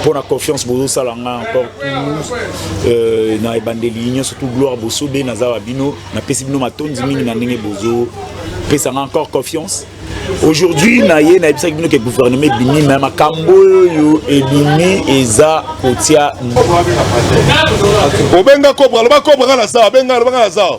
mpo na confiance bozosala nga encore tout euh, na ebandeli nyonso tout gloire bosobe naza wa bino napesi bino matondi mingi na ndenge bozopesa nga encore confiance aujourd'hui na ye nayebisaki bino ke gouvernement ebimi me makambo oyo ebimi eza kotia obenga cobra loba cobra nga na zawa benga loba nga na zawa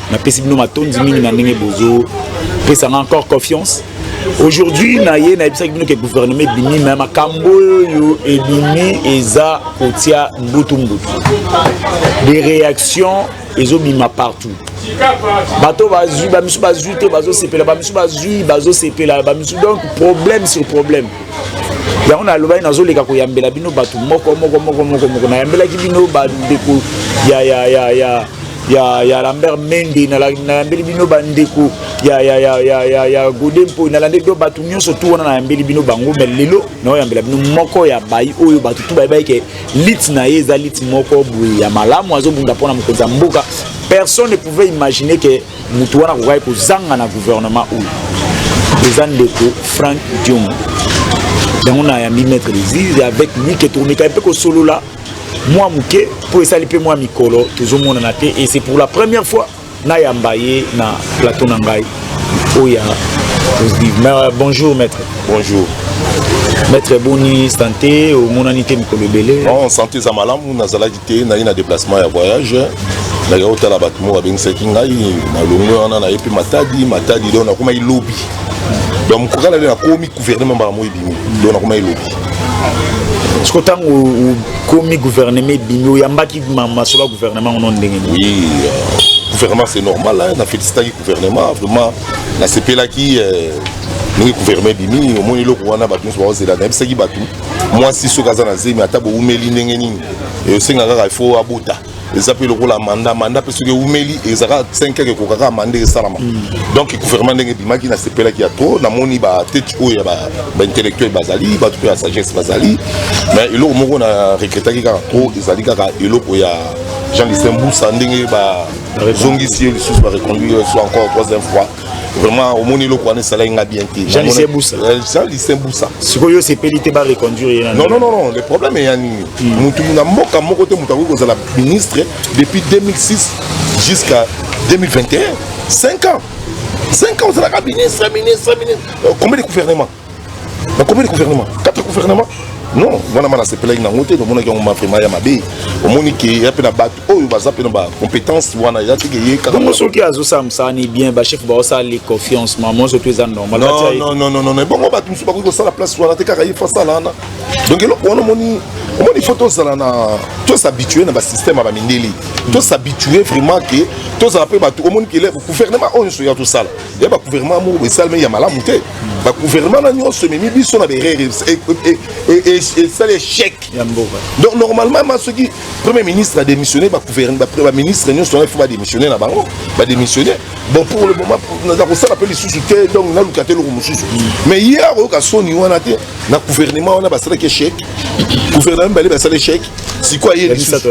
napesi bino matondi mingi na ndenge bozo pesanga encore confiance aujourd'hui naye nayebisaki bino ke gouvernement ebimi me makambo oyo ebimi eza kotia mbutu mbutu des réactions ezobima partout bato bazwi bamisu bazwi te bazosepela bamisu bazwi bazosepela bamisu donc problème sur problème yango nalobaki nazoleka koyambela bino bato moko moko moko moko moko nayambelaki bino bandeko ya ya ya ya ya, ya Lambert Mende nalandeli bino bandeko ya, ya, ya, ya, ya, ya Gode Mpoi nalandeli bino bato nyonso tu wana nayambeli bino bango me lelo naoyambela bino moko ya bayi oyo bato tu bayebai ke lite na ye eza lite moko boye ya malamu azobunda mpo na mokonzi ya mboka personne ne pouvait imaginer ke moto wana akokaki kozanga na gouvernement oyo eza ndeko Frank Diongo yango nayambi maître lizise avec lui ke tomekaki mpe kosolola mwa moke mpo esali mpe mwa mikolo tozomonana te et c'est pour la première fois nayamba ye na plateau na ngai oyo ya euh, bonjour maître bonjour maître boni santé omonani te mikolo ebele non santé eza malamu nazalaki te naye na déplacement ya voyage naye otala bato moko babengisaki ngai na longwe wana naye mpe matadi matadi donc nakomaki lobi donc mokokala nde nakomi gouvernement mbala moko ebimi donc nakomaki lobi siko ntango okomi gouvernement ebimi oyambaki masolo ya gouvernement ono ndenge nini oui euh, gouvernement c'est normal hein, na félicitaki gouvernement vraiment nasepelaki euh, ndenge gouvernement ebimi omoni eloko wana bato nyonso baozela nayebisaki bato mwasi soki aza na zemi ata boumeli ndenge nini eyosenga kaka ifo abota eza mpe lokola manda manda mpe soki eumeli ezaka 5 heures ekoka kaka manda esalama hmm. donc gouvernement ndenge ebimaki nasepelaki ya trop namoni batete oyo ya baintellectuel bazali bato mpe ya sagesse bazali mais eloko moko na regretaki kaka trop ezali kaka eloko ya jean listin busa ndenge bazongisi ye lisusu bareconduire soit encore troisième fois vraiment omoni eloko wana esalaki nga bien te jean lucien busa euh, jean lucien busa sikoyo osepeli te bareconduire ye non non non le problème eya nini hmm. motu na mboka moko te moto akoki kozala ministre depuis 2006 jusqu'à 2021 5 ans 5 ans ozalaka ministre ministre ministre euh, combien de gouvernement na combien de gouvernement quatre gouvernement non wana ma nasepelaki nango te tomonaki yango ma vraiment ya mabe omoni ke ya mpe na bato oyo baza mpe na bacompétence wana eza teke ye kakabongo soki azosala mosala ni bien bachef baosala le confiance ma monso to eza normalnonnnnn ebongo bato mosusu bakoki kosala place wana te kaka ye fo asala wana donc eloko wana omoni omoni fo tozala na tosabitue na basystème ya bamindeli tosabitue vraiment ke tozala mpe bato omoni ke gouvernement oyo nyonso ya tosala ya bagouvernement moko esalami ya malamu te ba gouvernement na nyonso ememi biso na berere esali échec donc normalement ma soki premier ministre a démissionné baministre nyonso wana ifo badémissionne na bango badémissionne bon pour le moment naza kosala mpe lisusu te donc naluka te eloko mosusu mais ye akoyoka soni wana te na gouvernement wana basalaki échec gouvernement mibale basala échec sikoyo aye lisusu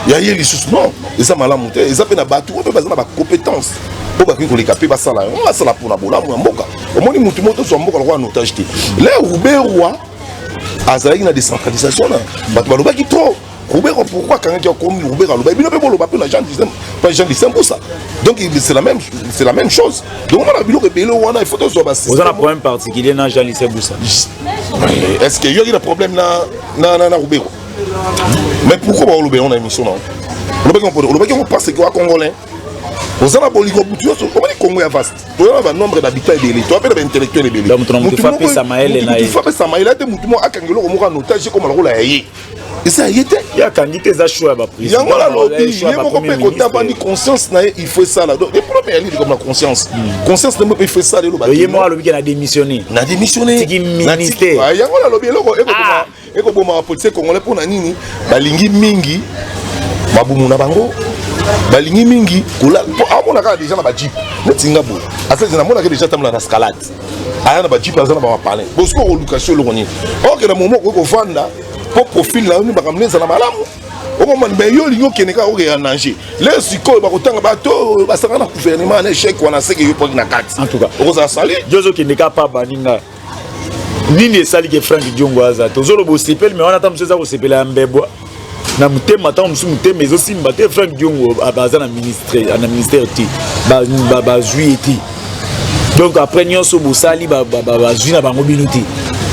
ya ye lisusu non eza malamu te eza mpe na bato oyo mpe baza na bacompétence oyo bakoki koleka mpe basala yango basala mpona bolamu ya mboka omoni motu moko tozwa mboka lokola na otage te le ruberwa azalaki na décentralisation na bato balobaki trop Roubero, pourquoi quand il y a commis Roubero, le baby, le bolo, le la gens disent, pas les gens disent pour ça. Donc c'est la même, c'est la même chose. Donc on a vu le bébé, on a il faut tous avoir. Vous avez un problème particulier dans Jean Lissé Boussa. Est-ce qu'il y a un problème dans dans dans Roubero? Mais pourquoi Roubero on a une mission là? Roubero, Roubero, on pense que quoi Congolais. oza na bolingo butu nyonso omoni kongo ya vaste toza na banombre d'habitant ebele toza mpe na baintellectuel ebelemutu apesa mayele ate motu moko akanga eloko moko anotage ekoma lokola ya ye eza ye te yakangi te eza show ya baprise yango nalobi ye moko mpe kotabani conscience na ye il faut esala donc eprobe ya lili comme na conscience hmm. conscience na moko il faut esala eloba ye moko alobiki na démissionne na démissionne tiki ministère yango nalobi eloko ekokoma ah! Eko boma ba policiers congolais pona nini? Balingi mingi babumu na bango balingi mingi kola po amona kaka deja na ba jeep neti nga boye asali na mona ke deja tambola na scalade aya na ba jeep aza na ba mapalin bosiko koluka sio eloko nini oke na momo okoki kovanda po profil na yo ni makambo neza na malamu okomona me yo olingi okende kaka okea nanger le sikoyo bakotanga bato oyo basangana na gouvernement na echec wana seke yo poki na kati okozala sali yo ozokende kaka pa baninga nini esali ke frank diongo aza te ozoloba osepeli me wana ata mosusu eza kosepela ya mbebwa na motema ntango mosusu motema ezosimba te frank diongo aza na ministre na ministère te bazwi ye te donc après nyonso bosali bazwi na bango bino te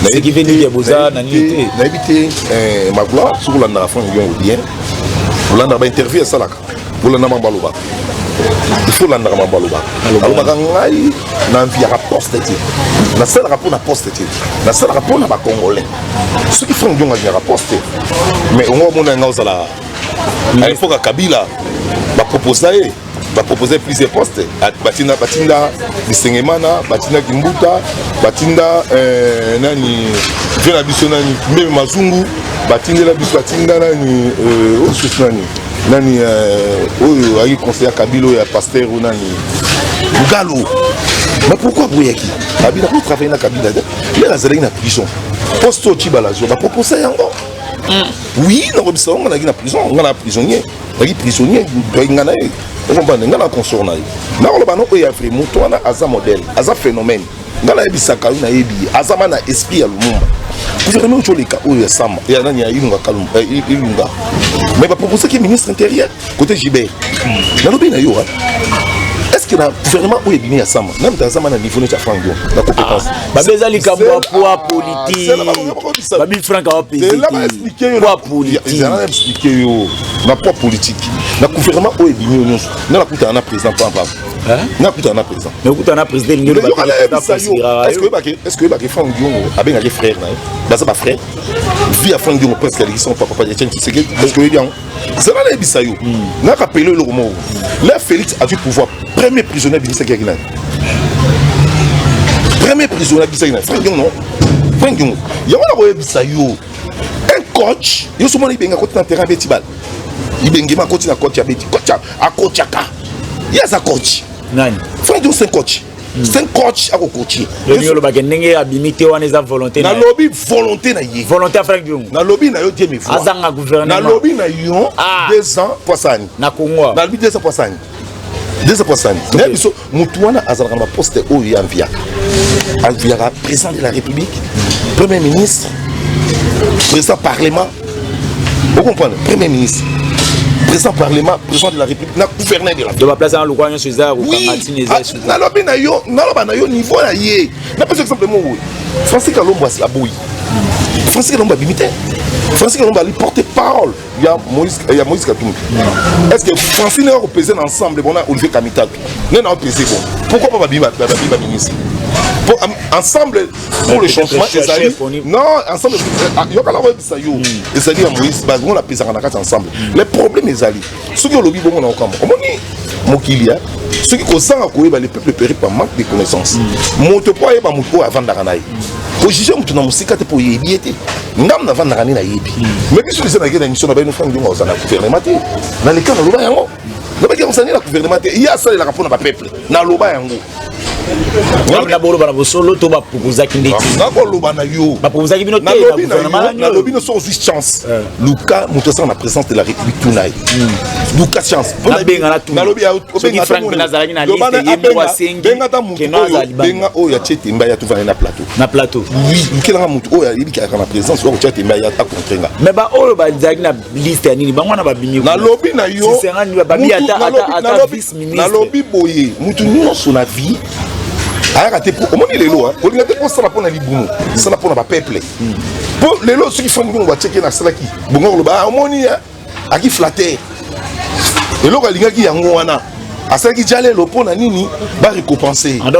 nayebi te eh, magloire soki olandaka frank diongo bien olandaka bainterview asalaka kolanda mambo alobaka ifo olandaka mambo alobaka alobaka ngai na nviaka poste te nasalaka mpo na poste te nasalaka mpo na bacongolais soki frank dionga aviaka poste te mais ongo omona ngai ozala à epoka kabila baproposa ye baproposa plusieurs postes batinda batinda bisengemana batinda kimbuta batinda euh, nani vie na biso nani mbebe mazungu batindela biso batinda nani euh, osusu nani nani euh, oyo ayi conseiller kabilo ya pasteur ou nani mugalo mais pourquoi aboyaki abi nakoki travaille na kabila te ye nazalaki na prison poste oyo cibala azwa baproposa yango mm. oui nakobisa yango nalaki na prison nga na prisonnier nalaki prisonnier toyaki nga na ye okompane nga na consort na ye nakoloba no oyo ya vrai moto wana aza modèle aza phénomène nga nayebisaka yo nayebi ye aza ma na esprit ya lumumba gouvernement oyo coleka oyo ya sama ya nani ya ilunga kalumba eh, ilunga mais baproposaki ministre intérieur côté gibert nalobi na yo est ce que na gouvernement oyo ebimi ya sama nani tazama na niveau neti ya frank dion na compétence ah, babe eza likambo ya poa politikebabi frank awapesepoa politikeexplike yo na poa politique na gouvernement oyo ebimi yo nyonso nga nakutana na président pampapa nga kutana na président mais okutana na président elingi olobaaeske oyebaki frank diongo abengaki frère na ye baza bafrère vie ya frank diongo presque aleki son papa etienne tshisekedi parce que oyebi yango zala nayebisa yo naka pele eloko moko la félix azwi pouvoir premier prisonnier abimisaki yaki nani premier prisonnier abimisaki nani frank diongo non frank diongo yango nakoyebisa yo un coach yo somona ibenga akoti na terrain abeti bale ibengema akoti na coach abeti coach akotchaka ye aza coach nani frank jones un coach hmm. c'est un coach akokotie lobi olobaka ndenge abimi te wana eza volonté nalobi volonté na ye volonté afraki diongo nalobi na yo diemi azanga gouvernement nalobi na yo ah. deux ans poisani na congo nalobi deux ans poisani dezapasani na biso motu wana azalaka na baposte oyo ye aviaka aviaka président de la république premier ministre président parlement okomprendre premier ministre président parlement président de la république na gouverneur de la de baplace na lokwa nyonso eza nalobi na yo naloba na yo niveau na ye napesa exemple moko boye francis kalombo aboyi francis kalombo abimi te francis kalombo ali porte parole ya Moïse eh, ya Moïse Katumbi est-ce que Francine a pesé ensemble bon Olivier Kamitaku ne n'a pesé bon pourquoi pas Babiba Babiba ministre pour, um, ensemble pour le changement ezali non ensemble euh, ah, yokala koyebisa yo hmm. ezali ya Moïse bango na pesaka na kati ensemble hmm. le problème ezali soki olobi bongo na okambo omoni mokili ya soki kozanga koyeba le peuple péri par manque de connaissance moto mpo ayeba moto oyo avandaka na ye kojuge moto na mosika te mpo oyebi ye te ngambo navandaka nde nayebi mais biso biza nake na émission na baino frank ndiongo aza na gouvernement te na leka naloba yango nabaki yango sani na gouvernement te ye asalelaka mpo na bapeuple naloba yango na boloba na bosolo to bapropozaki nde nakoloba na yo bapropozaki bino tenalobi no soki ozwi chance eh. luka moto asala na présence de la république tuna ye hmm. luka chance benga ata moto oyo benga oyo atie temba ya tovanda na plateau na plateau oui lukelanga moto oyo ayebi kaka na présence oyo akotia temba ya ta contre nga mais baoyo bazalaki na liste ya nini bango wana babimi nalobi na yo nalobi boye motu nyonso na vie ayaka te omoni lelo olinga te kosala mpo na libumu sala mpo na bapeuple mpo hmm. lelo soki frank bongo batieke nasalaki bongo koloba ah, omoni aki flater eloko alingaki yango wana asalaki jalelo mpo na nini barecopense ah,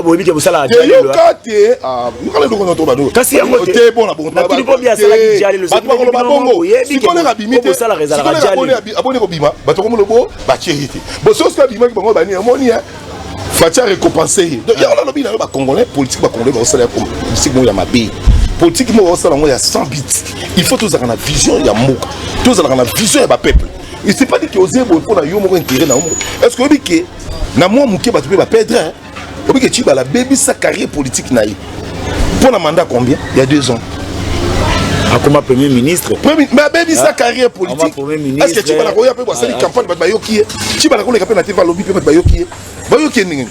eyoka te ah, kasi yango te bona bongobato bakoloba bongo sikoleka abimi te aboni kobima bato komona bo batie ye te bososi abimaki bango bani amoni faci arecopense ye donc yango nalobi na yo bacongolais politique bacongolais baosala ya politique moko ya mabe politique moko baosala yango ya sans bit il faut tozalaka na vision ya mboka tozalaka na vision ya bapeuple et c'est pas dit que oze boye mpo na yo moko intérêt na yo moko est ce que oyebi ke na mwa moke bato mpe bapedre oyebi ke cibala abebisa carrière politique na ye mpo na mandat combien il y a deux ans akoma premier ministre mais abebisa ah, carrière politique est ce que cibala koya mpe basali ah, ah. campagne bato bayoki ye cibala koleka mpe na te balobi mpe bato bayoki ye bayoki ye ndenge nini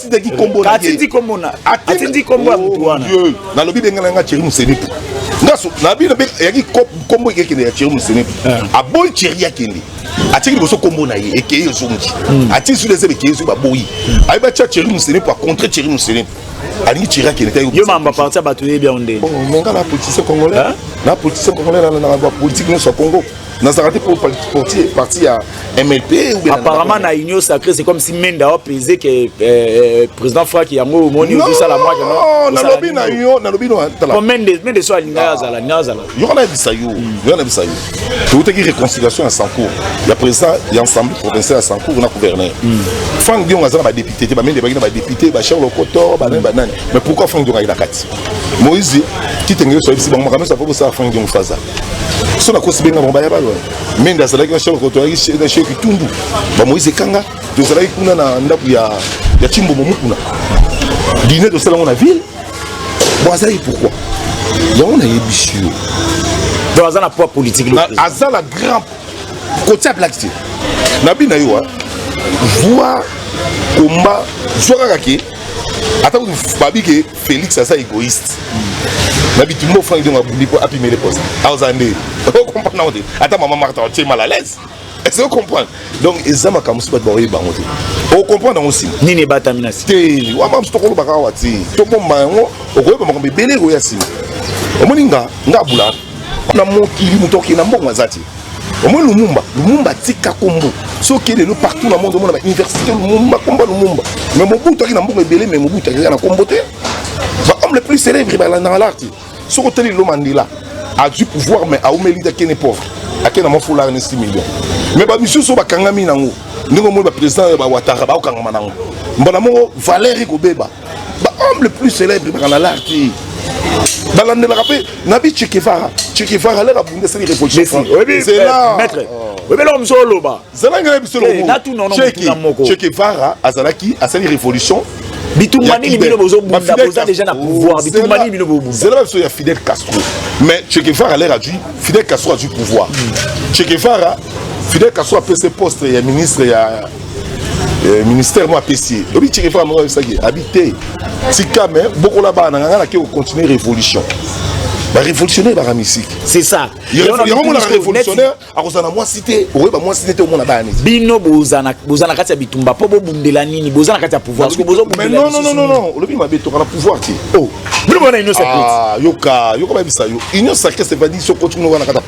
atindaki kombo na atindi kombo na atindi kombo ya mutu wana nalobi benga na nga Thierry Musenetu ngaso nabi na yaki kombo ekekende ya Thierry Musenetu aboyi Thierry akende atiki liboso kombo na ye ekei ezongi atiki su lezebe ekei ezongi baboyi ayebi atya Thierry Musenetu acontre Thierry Musenetu alingi Thierry akende te yo mamba parti ya bato yebi yango nde menga na politicien congolais na politicien congolais na politique nyonso ya Congo nazalaka te portier parti ya mlp apparemment na union sacré c'est comme si menda apese ke eh, eh, président fraki yango omoni ozosala mwakanalobi na yo nalobi nomende so alinga ah. azala ni azala yoka nayebisa yo hmm. yoka nayebisa yo toutaki réconciliation ya sancour ya président ya ensemble provincial ya sancour na gouverneur hmm. frank diongo aza na badepute te bamende baki na badepute bacharle okoto banani banani mais pourquoi frank diongo ayi na kati moïse kitenge yo soyebisi bango makambo nyonso apo bosala frank diongo faza so nakosi benga bango baya balo mende azalaki na shoko tozalaki na sheki tumbu bamoise ekanga tozalaki kuna na ndako ya, ya chimbomo mukuna dine tosala yango na ville bo azalaki pourquoi yango nayebisi yo donc aza na poids politique aza na grand kotia black te na bina yo zwa komba zwa kaka ke ata babi ke Felix aza egoïste na bitumba ofranc idongo abundi mpo apimele posa aoza ah, nde ocomprendre yango te ata mama marta otie mal à l'aise est-ce que ocomprendre donc eza makambo mosusu bato baoyeba yango te ocomprendre yango nsima nini ebatami na si te wama mosu tokolobaka awa te tobomba yango okoyeba makambo ebele ekoya nsima omoni nga nga abula na mokili moto okei na mbongo aza te Omo Lumumba, Lumumba tika kombo. Soki lelo partout na monde omona ba université Lumumba, kombo Lumumba. Mais Mobutu akina mbuka ebele mais Mobutu akina na kombo te. Ba homme le plus célèbre ba na l'arti. Soko teli lo Mandela a du pouvoir mais a omeli da kene pauvre. Akena mo foulard ni 6 millions. Mais ba misusu bakangami nango. Ndenge omoni ba président ya ba Ouattara ba okangama nango. Mbona mo valeur ekobeba. ba homme le plus célèbre baka na lar te balandelaka mpe na bi chekevara chekevara leka bunde esali révolution maître oyebi eloko mosusu oloba zelanga na biso elokokevara azalaki asali révolution bitumba nini bino bozobunda boza déjà na pouvoir bitumba nini bino bobunda zela biso ya fidel castro mais chekevara lere azwi fidel castro azwi pouvoir chekevara fidel castro apesi poste ya ministre ya Eh, ministère moko apesi ye oyebi ceke faka moko ayebisaki abi te tika me bokola bana na nganga nake kocontinue révolution barévolutionnaire baka misiki c'est ça yango monaka révolutionnaire akozala na mwasi te okoyeba mwasi te te omona bana neti bino boza na kati ya bitumba mpo bobundela nini boza na kati ya pouvoir soki bozobundelanon olobi mabe toka na pouvoir te oh. bino bona union sacrée ah, yoka yoka bayebisa yo union sacrée c'est pas dit soki otikuna wana kati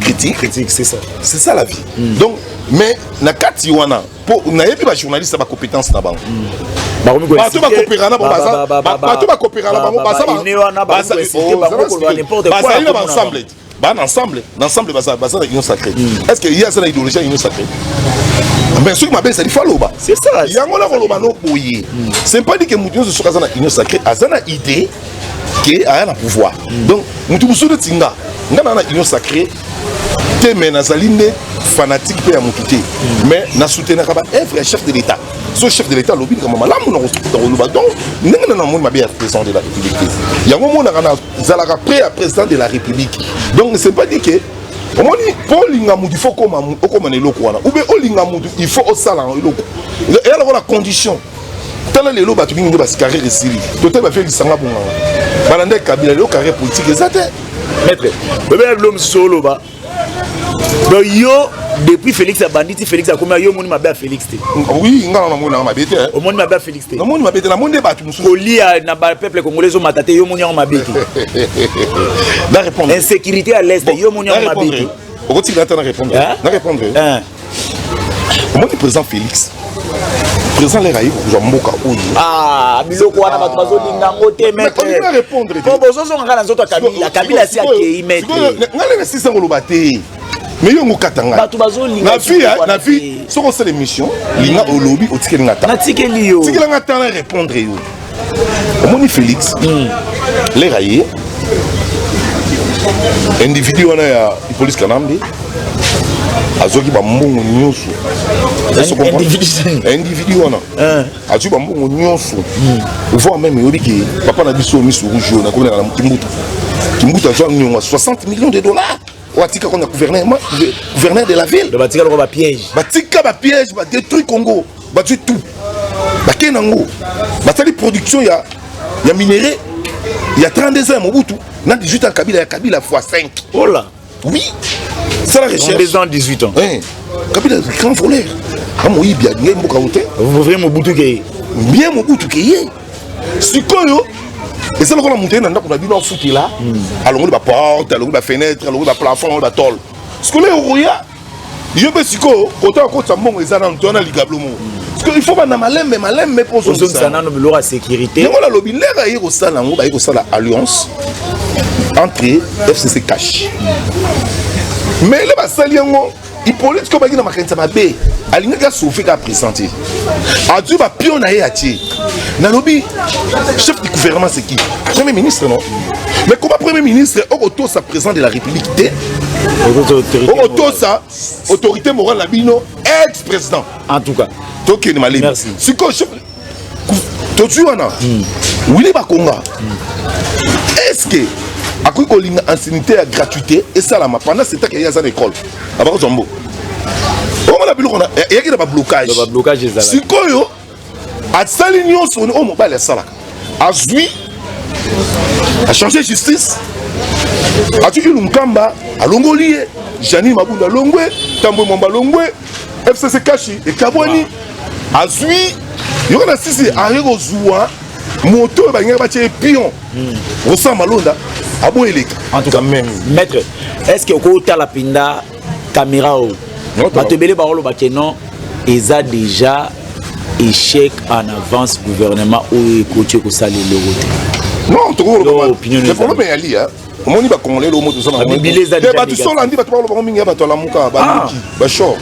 critique critique c'est ça c'est ça la vie mm. donc mais na kati wana po nayebi ba journaliste ba compétence na bango mm. bato bakopera na bato bakopera na bango bazali na baensemble ba na ensemble na ensemble baza baza na union sacrée mm. est ce que ye aza na idéologie ya union sacrée mais soki mabe ezali fo aloba yango na koloba no boye c'est pas dit que moto nyonso soki aza na union sacrée aza na idée ke aya na pouvoir donc moto mosusu neti nga nga na na union sacré te mais nazali nde fanatique mpe ya motu te mais nasoutenaka baevre ya chef de l'état so chef de l'état alobi likambo malamu nakoloba donc ndenge na namoni mabe ya président de la république te yango omonaka nazalaka près ya président de la république donc c'est pas dit que omoni mpo olinga motu il faut okoma na eloko wana oube olinga motu il faut osala eloko eya lokola condition tala lelo bato mingi nde bascarrière esili totali bavie lisanga bonganga balandaki kabila lelo carrière politique eza te maître bobela bilo mosusu oloba donc yo depuis félix abandi ti félix akomi yo omoni mabe ya félix te oui nga na namoni nanga mabe te omoni mabe ya félix te namoni mabe te namoni nde bato mosusu kolia na bapeuple congolais ezomata te yo omoni yango mabe te na répondre insécurité à l'est yo omoni yango mabe te okotikala ata na répondre na répondre omoni président félix président lere aye kozwa mboka oyo ah, biloko wana bato bazolinga yango te mpo bozozonga kaka na nzoto ya kabila kabila asi akei metengai lere sisa koloba te mais yo yango kata ngai bato bazolinga na vie soki osala émission linga olobi otikeli nga ta natikeli yo tikela nga ta na répondre yo omoni félix mm. lera ye individu wana ya police kanambe azwaki bambongo nyonso individu wana eh. azwi bambongo nyonso hmm. voir meme eyobi ke papa na biso miso rouge oyo nakomi na kimbuta kimbuta azwa nyongo 60 millions de dollars watika kona gouverneur ma gouverneur de la ville donc batika loko ba piège batika ba piège ba détruit Congo bazwi tout bakei na ngo basali production ya ya minerais ya 32 ans ya Mobutu na 18 ans Kabila ya Kabila fois 5 oh là oui c'est la recherche 32 ans 18 ans hein Kabila grand voleur amoyibi alingai mboka ote vrai Mobutu ke bien Mobutu ke ye sikoyo eza lokola moto ye na ndako na bino afutela hmm. alongoli baporte alongoli bafenetre alongoli baplafond alongoli batole sikoyo leo okoya yo mpe sikoyo kota okotisa mbongo eza nano toyana ligablo moko sikoyo il faut banda malembe malembe mpo ozongisa nano biloko ya sécurité yango nalobi ndenge aye kosala yango baye kosala alliance entre fcc cash mais le basali yango Hippolyte ko baki na makanisa mabe alingaki asauve kaka président te azwi bapio na ye atie nalobi chef du gouvernement c'est qui premier ministre non mais koma premier ministre okotosa président de la république te okotosa autorité morale na bino ex président en tout cas tokende malemi sikoyo tozwi wana hmm. wili bakonga hmm. eske akoki kolinga ancienité ya gratuité esalama pendant setake ye aza na ekole abakozwa mbo omona biloko eyaki na bablocage sikoyo asali nyonso oyo mobali asalaka azwi achange justice atiki lunkamba alongoli ye janine mabunda longwe tambwe mwamba longwe fcc kashi ekabwani azwi yoko na sisi aye kozwa moto oyo balingaki batya ye pion osala malonda aboyi eleka en tout cas même maître est ce que okotala mpenza caméra oyo bato ebele bakoloba ke non eza déjà échec en avance gouvernement oyo ekoti ekosala eloko te non tokokolobaa opinion ezali. omoni bakongolais lomo toza nate bato solandi bato bakolo bango mingi ya bato alamuka baluki bashor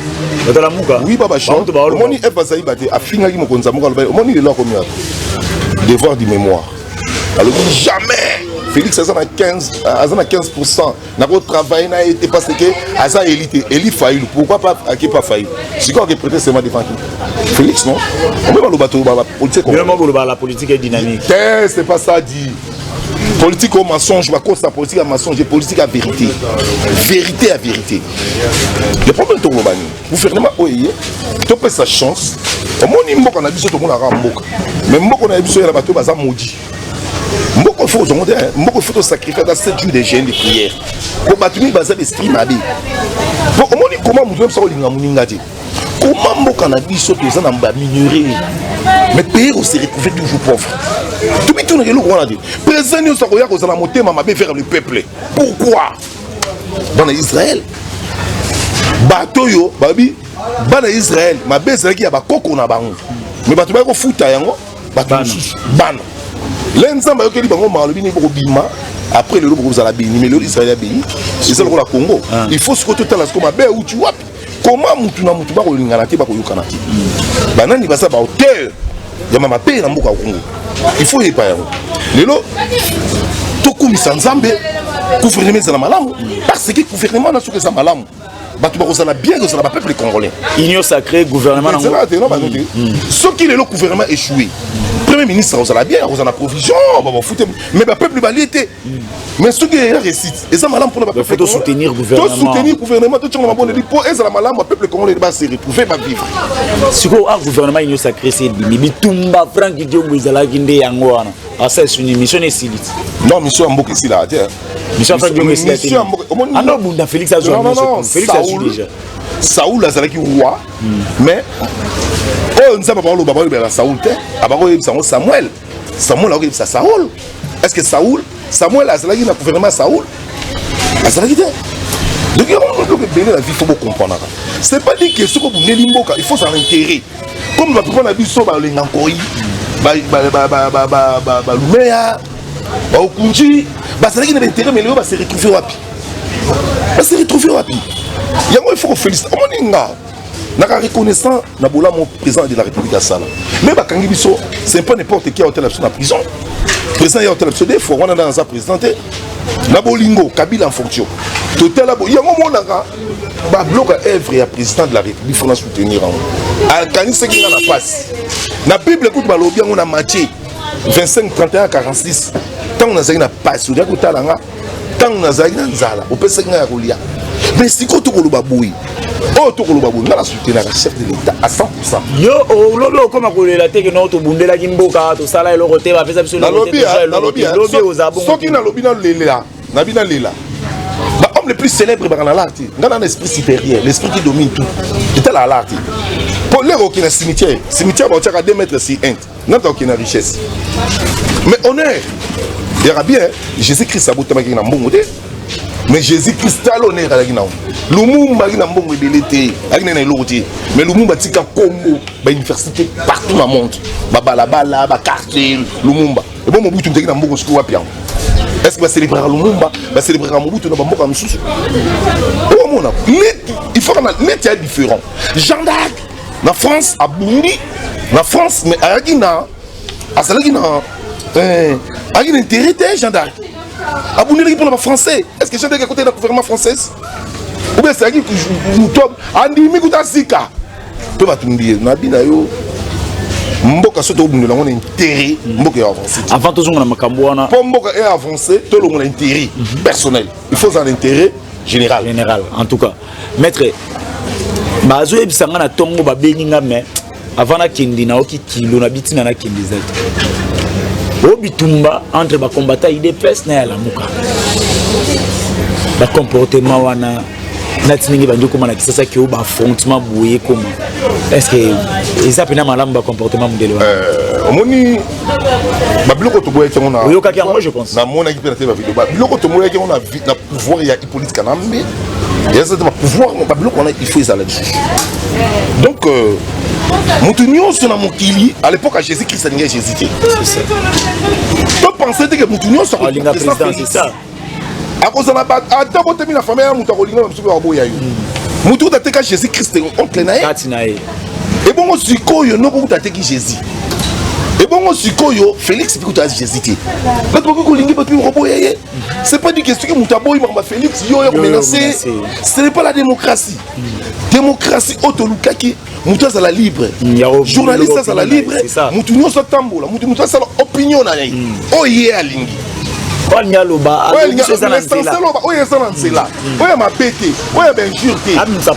wi ba bashor omoni eve bazali bate afingaki mokonzi ya moko alobai omoni lelo akomi wapi devoir du mémoire alobi jamais félix aza na 15 aza na 15 pourcent nakotravaille na ye te parce que aza eli te eli failu pourquoi pas ake pas failu sikoyo ake prete sema devant qui félix non ombe baloba toloba bapolitique la politique est dynamique te c'est pas ça dit politique au mensonge bakosa politique ya mensonge politique ya vérité vérité ya vérité le problème tokoloba nini gouvernement oyo eye topesa chance omoni mboka na biso tomonaka mboka mais mboka na biso yela bato baza maudit mboka fo ozongo te mboka ifo tosacrifie ata 7 jours de jeune de prière po bato mingi baza l'esprit mabe po omoni koma moto yebisa kolinga moninga te Comment mboka na biso toza na ba minerais mais pays on se retrouver toujours pauvre. Tout le monde est là quoi Président nous akoya ko zala motema mabe vers le peuple. Pourquoi Dans Israël bato yo babi bana Israël mabe ezalaki ya bakoko na bango mais bato bayaki kofuta yango bato mosusu bana le nzambe ayokeli bango malobi nini bokobima après lelo bokozala beni mais lelo Israël ya beni eza lokola Congo ah. il faut sikoyo totala sikoyo mabe euti wapi koma mutu na mutu bakolingana te bakoyokana te banani baza ba hauteur ya mama pe na mboka ya kongo il faut yepa yango lelo tokumisa nzambe gouvernement ezala malamu parce que gouvernement na soki eza malamu bato bakozala bien kozala bapeuple congolais union sacré gouvernement soki lelo gouvernement échoué premier ministre akozala bien akozala na provision babafute mais bapeuple balie te mais soki eya réussite eza malamu mpona bapeuple soutenir gouvernement totyanga mabondeli mpo ezala malamu bapeuple congolais base retrouve bavivre sikoyo a gouvernement union sacré se ebimi bitumba frank diongo ezalaki nde yango wana asa esuni mission na esili ti non mission ya mboka esilaa te mission frank diongo esila te anda obunda félix azwa félix asui déjà saul azalaki roi hmm. mais oyo nzambe bakoloba baoyebela na saul te abakoyebisa yango samuel samuel akoyebisa saul est ce que saul samuel azalaki na gouvernement ya saul azalaki te donc yango biloko ebele na vie fo bocomprenaka c'est pas dit que soki obundeli mboka il faut ça intérêt comme bapapa na biso balenga nkoi balumeya baokunji bazalaki na baintérêt mais lelo base retrouve wapi base retrouve wapi yango il faut kofélicite omoni nga naka reconnaissant na bolamu président de la république asala me bakangi biso c'est pas n'importe qui aotala biso na prison président ya otala biso de fois wana nda naza président te na bolingo kabila en fonction totala bo yango monaka babloka œuvre ya président de la république fona soutenir yango akanisaki nga na mpasi na bible kutu balobi yango na matie 25 31 46 ntango nazalaki na mpasi ozalaki kotala nga ntango nazalaki na nzala opesaki ngai ya kolia mais sikoyo tokoloba boye oyo tokoloba boye ngai nasutenaka chef de l'état à 100 yo olobi okoma kolela te keno tobundelaki mboka tosala eloko te bapesa biso soki nalobi nalela nabi nalela bahomme le plus célèbre ebaka na lar te ngai na na esprit supérieur l'esprit qui domine tout etala alar te mpo lere okina cimetière cimetière baotiaka 2 mètre si inde nga to okina richesse mais honneur yaka bien jésus christ abotamaki na mbongo te mais jésus christ tala honneur alaki nango lumumba aki na mbongo ebele te alaki naye na eloko te mais lumumba atika nkombo bauniversité partout na monde babalabala baquartier lumumba ebo mobutu mtaki na mbongo soki wapi yango est ce que bacelebraka lumumba bacelebraka mobutu na bamboka mosusu okomona neti il faut kana neti ya différent gendarme na France abundi na France mais ayaki na azalaki na eh, ayaki na intérêt te Jean d'Arc abundelaki mpo na bafrançais est ce que Jean d'Arc akotaki na gouvernement française ou bien ezalaki moto andimi kuta zika mpe batumbi ye nabi na yo mboka soki tokobundela yango na intérêt mboka ya avance avant tozonga na makambo wana mpo mboka e avance tolongola intérêt mhm. personnel il faut ozala na intérêt général général en tout cas Maître bazo yebisa nga na tongo ba bengi nga mais avant na kende na oki kilo na bitina na kende zaki. O bitumba entre ba combattants IDPS na ya lamuka. Ba comportement wana nati ndenge bandi okoma na kisasa ke ba affrontement boye ekoma est ce que eza mpena malamu ba comportement modele wana euh, omoni babiloko toboyaki yango oyokaki yango je pense namonaki mpe na te bavideo babiloko tomoyaki yango na pouvoir ya Police Kanambe, il y a des pouvoirs, mais pas on a, il faut les aller Donc, euh, moto nyonso na mokili à l'époque ya jésus christ alingai jésus te to pense te ke moto nyonso akolinga président c'est ça akozala ata botemi na famille ya moto akolinga na mosuku akoboya yo moto kuta teka jésus christ oncle na ye kati na ye ebongo sikoyo noko kuta teki jésus ebongo sikoyo félix mpe kuta jésus te bato bakoki kolingi bato mpe koboya ye C'est pas dit que ce que Moutaboy, Marma Félix, yo, yo, menacé. Ce n'est pas la démocratie. Démocratie, Otolukaki, Mouta la libre. Mm, Journaliste, ça la libre. Moutounio, ça tambola. Moutounio, ça l'opinion. Oh, yeah, Lingi. oyo aloba oyo eza na nzela oyo ya mabe te oyo ya bainjure te abimisa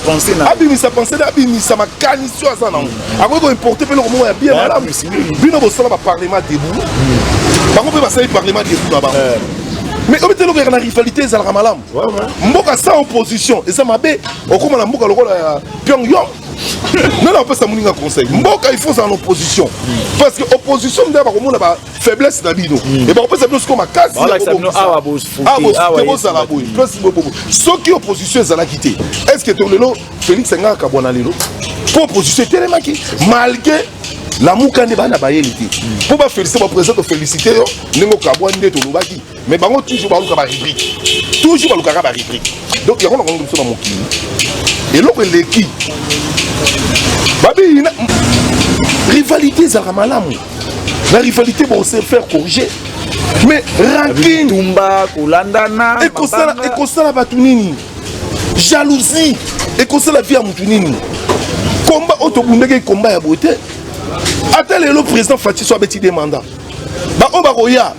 pensena abimisa makanisi oyo aza nango akoki koimporte mpe eloko moko ya bien malamu bino bosala baparlement debout bango mpe basali parlement debout na bango eh. mais obi te eloko yaka na rivalité ezalaka malamu mboka sans opposition eza mabe okóma na mboka lokola ya pyong yong nani apesa moninga conseil mboka il faut ozala na opposition parce que opposition nde bakomona ba faiblesse na bino e bakopesa bino sikoyo makasiawa bozala boye soki opposition ezalaki te est ce que to lelo Felix nga akabwana lelo po opposition etelemaki malgré lamuka nde bana bayeli te mpo bafelisite baprésident tofélicité yo ndenge okabwa nde tolobaki mais bango toujours baluka barubrike toujours balukaka barubrike donc yango nakongi biso na mokili eloko eleki babiyina rivalité ezalaka malamu na rivalité bon se faire corriger mais rankine ekosalaka bato nini jalousie ekosala vie ya motu nini komba oyo tobundaki komba ya boye te ata lelo président faci so abeti de mandat baoyo bakoya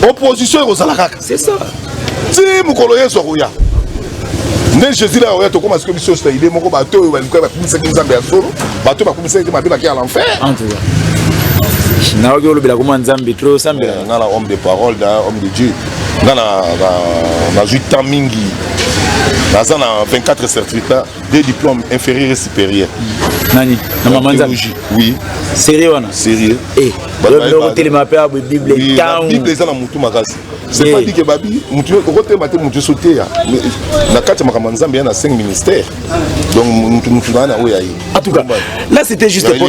opposition ekozala kaka ti mokolo yesu akoya nde jésus la oya tokóma sikoyo biso nyonso na idée moko bato oyo balikuya bakumisaki nzambe ya solo bato bakumisaki te mabe baki ya l'enfer nayoki olobela koma nzambe tro osambela eh, nga na homme de parole na homme de dieu nga nazwi temps mingi naza na 24 certificat de diplôme inférieur et supérieur nani na mama nzambe oui sérieux wana sérieux eh otelema mpe abwe bible ntango bible eza na motu makasi c'est pas dit que babi motu okotelema te motu nyonso te ya na kati ya makambo ya nzambe ya na 5 ministère donc motu motu naa na oyo ya ye en tout cas là c'était juste pour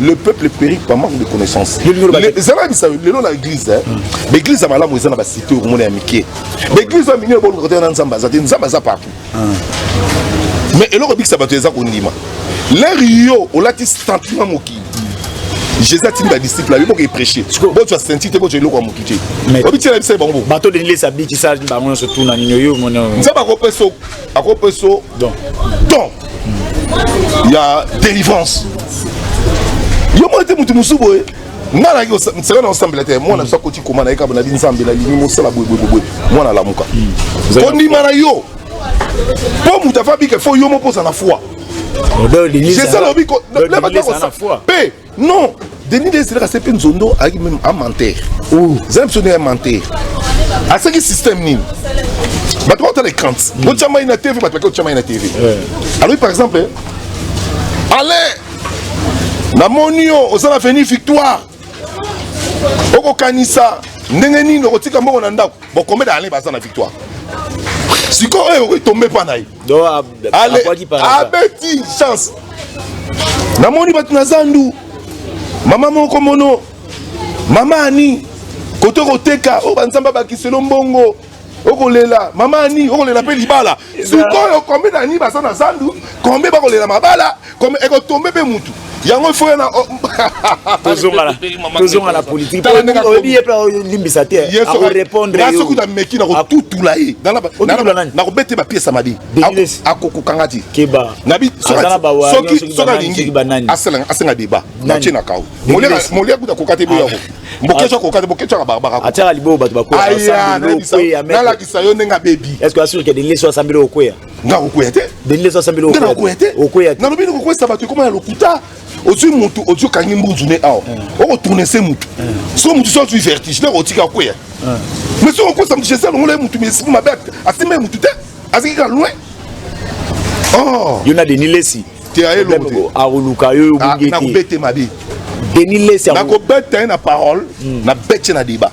le peuple périt par manque de connaissance eza na bisa lelo na église eh. hmm. baeglise ya malamu eza na basite okomona ya mike baeglise ya mingi eboluka te na nzambe aza te nzambe aza partout hmm. mais eloko ebikisa bato eza kondima lere yo olati sentiment mokili jésus atindi badisciple ayo boke epreche botya senti te botya eloko ya motu te obityela bisali bango bobato denilesa bikisa bango nyonso tuna nini oyo nzambe akopesa akopeso don don ya délivrance yo mona te moto mosusu boye nga nayaki seka na osambela te mwana biso akoti koma na ye kaba nabi nzambe nalingi mosala boyeboyeboye mwana alamuka kondima na yo mpo moto afa bika fo yo moko ozala foi jesala obiko mpe Non, Denis Leslie a fait Nzondo avec même un menteur. Oh, Zem sonne un menteur. À ce qui système ni. Bah toi t'as les craintes. Bon tu as une TV, bah toi tu as une TV. Alors par exemple, allez, na monio, aux la venue victoire. Oko kanisa, ndenge nini okotika mbongo na ndako bokomeda ale baza na victoire sikoyo oyo okoki tombe mpa na ye abeti chance namoni bato na zandu mama moko mono mama ani kote okoteka oyo banzambe abakiselo mbongo okolela mama ani okolela mpe libala sikoyo kombe na nini baza na zandu kombe bakolela mabala comme eko tombe pe mutu yango il faut yana oh, tozongana tozongana na politique oyebi ye pe olimbisa te akorépondre yo soki nameki nakotutula ye nakobete bapiese ya mabe akokokanga ti keba soki alingi asenga débat natie na kao molia kuta koka te boyako ah. mokesho akoka te mokesho aka barbara atiaka liboyo bato bakoya nalakisa yo ndenge abebi est ce que asure ke de leso asambeli okweya nga kokwea te bende eza sambeli nga nakokwea te okwea te nalobi nikokwesa bato ekoma ya lokuta ozwi motu ozwi okangi mbunzu ne awa okotourne se motu so motu so azwi vertige nde okotika kwea mais soki okokwesa motu jesi alongola ye motu mais esiko mabe asimba ye motu te aziki kaka loin oh. yo na denis lesi te ayelongo te akoluka yo obungi ah, te nakobete mabe denis lesi nakobeta ye na parole hmm. na bete na debat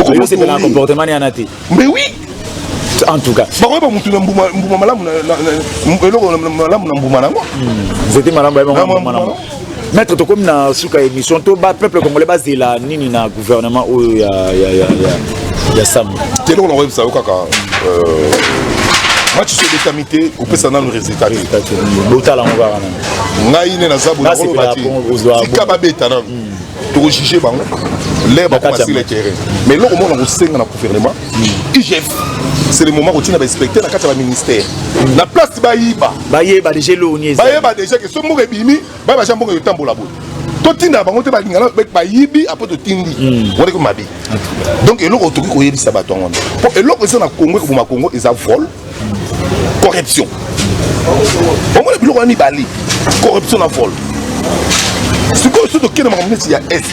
okosepela na comportement ne yana te mais oui en tout cas bakoyeba bah, motu na mbuma malamu eloko malamu na mbuma nango nzete malamu bayebaalamu maître tokomi na suka émission to ba peuple congolais bazela nini na gouvernement oyo ya ya ya ya ya sam te eloko nakoyebisa yo kaka euh, match so ebetami te opesa nanu résultat te botala yango kaka ngai nde naza botika babeta nanu toko juge bango lere bakoma sur le terrain mais eloko moko na kosenga na gouvernement igf c'est le moment kotina bainspecteur na kati ya baministère na place bayiba bayeba deja eloni bayeba deja ke so mboka ebimi bayeba ja mboka eyotambola boye totinda bango te balingana bayibi apres totindi hmm. wana ko mabe donc eloko tokoki koyebisa bato yango mpo eloko eza na kongo ekoboma kongo eza vol corruption omona biloko wana mibale corruption na vol sikoyo soki tokei na makambo neti ya est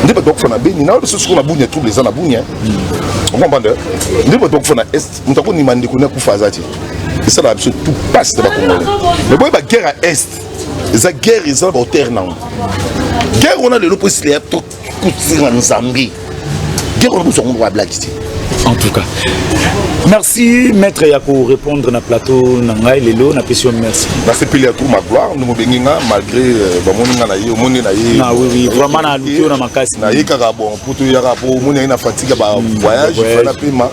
nde bato bakufa na beni na biso sikoyo na bunia trouble eza na bunia okomprendre nde bato bakufa na est moto akonima ndeko ne akufa aza te esalaka biso tout passe na bakongole mais boye baguerre ya est eza guerre eza na baauteur nango guerre wana lelo mpo esila ya trop Kutira Nzambi. Dieu on nous on va blague ici. En tout cas. Merci maître ya ko répondre na plateau na ngai lelo na pesi merci. Na sepeli ya tour ma gloire nous mobengi nga malgré euh, ba moni nga na ye moni na ye. Na oui oui vraiment na lukio na makasi. Na ye kaka bon pour to yaka po moni na fatigue ba hmm, voyage fana pema.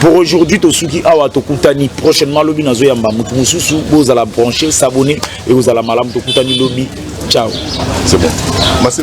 Pour aujourd'hui tosuki awa tokutani prochainement lobi nazo yamba mutu mususu bozala brancher s'abonner et ozala malamu tokutani lobi ciao c'est bon Merci.